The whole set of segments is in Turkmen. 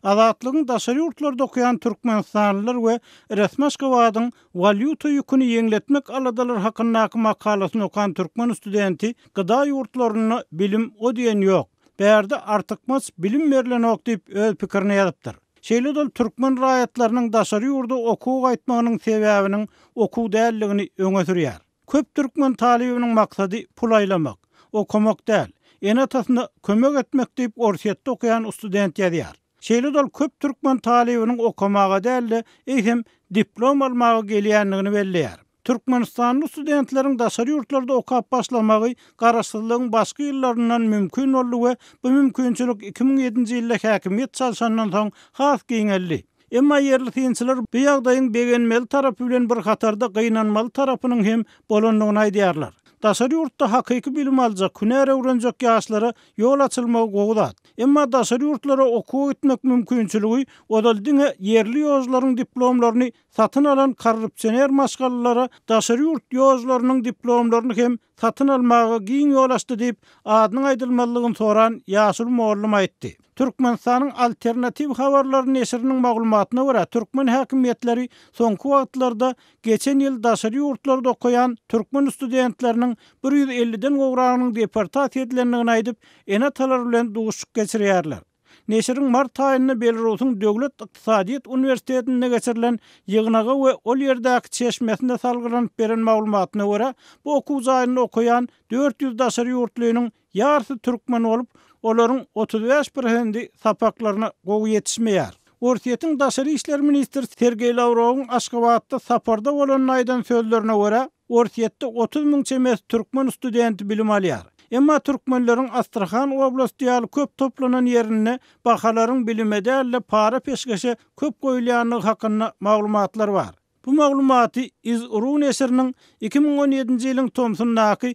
Azatlygyň daşary ýurtlarda okaýan türkmenistanlylar we resmi Aşgabadyň walýuta ýüküni ýeňletmek aladalary hakyndaky makalasyny okan türkmen studenti gyda ýurtlarynda bilim o diýen ýok, bärde artykmaç bilim berlenok diýip öz pikirini ýazypdyr. Şeýle-de ol türkmen raýatlarynyň daşary ýurda okuwa gaýtmagynyň sebäbiniň okuw däldigini öňe sürýär. Köp türkmen talybynyň maksady pul aýlamak, okamak däl, ene-atasyna kömek etmek diýip Orsýetde okaýan ustudent ýazýar. Şeýle-de ol köp türkmen talybynyň okamaga däl-de, eýsem, diplom almaga gelýändigini belleýär. Türkmenistanly ustudentleriň daşary ýurtlarda okap başlamagy garaşsyzlygyň başky ýyllaryndan mümkin boldy we bu mümkinçilik iki müň ýedinji ýylda häkimiýet çalşandan soň has giňeldi. Emma ýerli synçylar bu ýagdaýyň begenmeli tarapy bilen bir hatarda gynanmaly tarapynyň hem bolandygyny aýdýarlar. Daşary ýurtda hakyky bilim aljak, hünär öwrenjek ýaşlara ýol açylmagy gowy zat. Emma daşary ýurtlara okuwa gitmek mümkinçiligi ozal diňe ýerli ýožlaryň diplomlaryny satyn alan korrupsioner maşgalalara daşary ýurt ýožlarynyň diplomlaryny hem satyn almaga giň ýol açdy diýip, adynyň aýdylmazlygyny soran ýaşuly mugallym aýtdy. Türkmenistanyň Alternatiw habarlary neşiriniň maglumatyna görä, türkmen häkimiýetleri soňky wagtlarda geçen ýyl daşary ýurtlarda okaýan türkmen studentleriniň bir ýüz elliden gowragynyň deportasiýa edilendigini aýdyp, ene-atalar bilen duşuşyk geçirýärler. Neşiriň mart aýynda Belarusyň döwlet ykdysadyýet uniwersitetinde geçirilen ýygnaga we ol ýerdäki çeşmesine salgylanyp beren maglumatyna görä, bu okuw jaýynda okaýan dört ýüz daşary ýurtlynyň ýarsy türkmen bolup, olaryň otuz bäş prosendi sapaklaryna gowy ýetişmeýär. Orsýetiň daşary işler ministri Sergeý Lawrowyň Aşgabatda saparda bolanda aýdan sözlerine görä, Orsýetde otuz müň çemesi türkmen studenti bilim alýar. Emma türkmenleriň Astrahan oblasty ýaly köp toplanan ýerinde bahalaryň bilime däl-de para-peşgeşe köp goýulýandygy hakynda maglumatlar bar. Bu maglumaty Iz-Ru neşiriniň iki müň on ýedinji ýylyň tomsundaky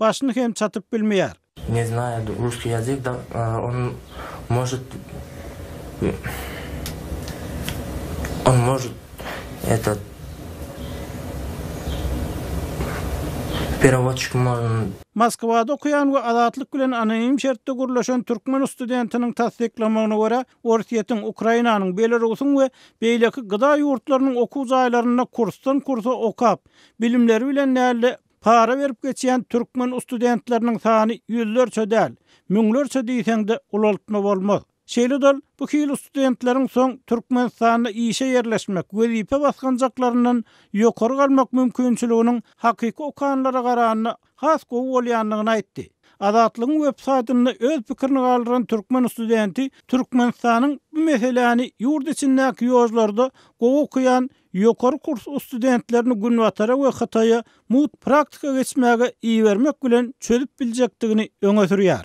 Başyny hem çatyp bilmeýär. Ne znayad russkiý ýazyk da on možit on možit etat perawodçik mol. Moskwada okaýan we Azatlyk bilen anonim şertde gürleşen türkmen ustudentiniň tassyklamagyna görä, Orsýetiň, Ukrainanyň, Belarusyň we beýleki gyda ýurtlarynyň okuw jaýlarynda kursdan kursa okap, bilimleri bilen däl-de, Para berip geçýän türkmen ustudentleriniň sany ýüzlerçe däl, müňlerçe diýseň-de ulaltma bolmaz. Şeýle-dal, bu hili studentleriň soň Türkmenistanda işe ýerleşmek, wezipe basgançaklaryndan ýokary galmak mümkinçiliginiň hakyky okanlara garanda has gowy bolýandygyny aýtdy. Azatlygyň websaýtynda öz pikirini galdyran türkmen studenti Türkmenistanyň bu meseläni ýurt içindäki ýožlarda gowy okaýan Ýokary kurs ustudentlerini Günbatara we Hytaýa mugt praktika geçmäge ibermek bilen çözüp biljekdigini öňe sürýär.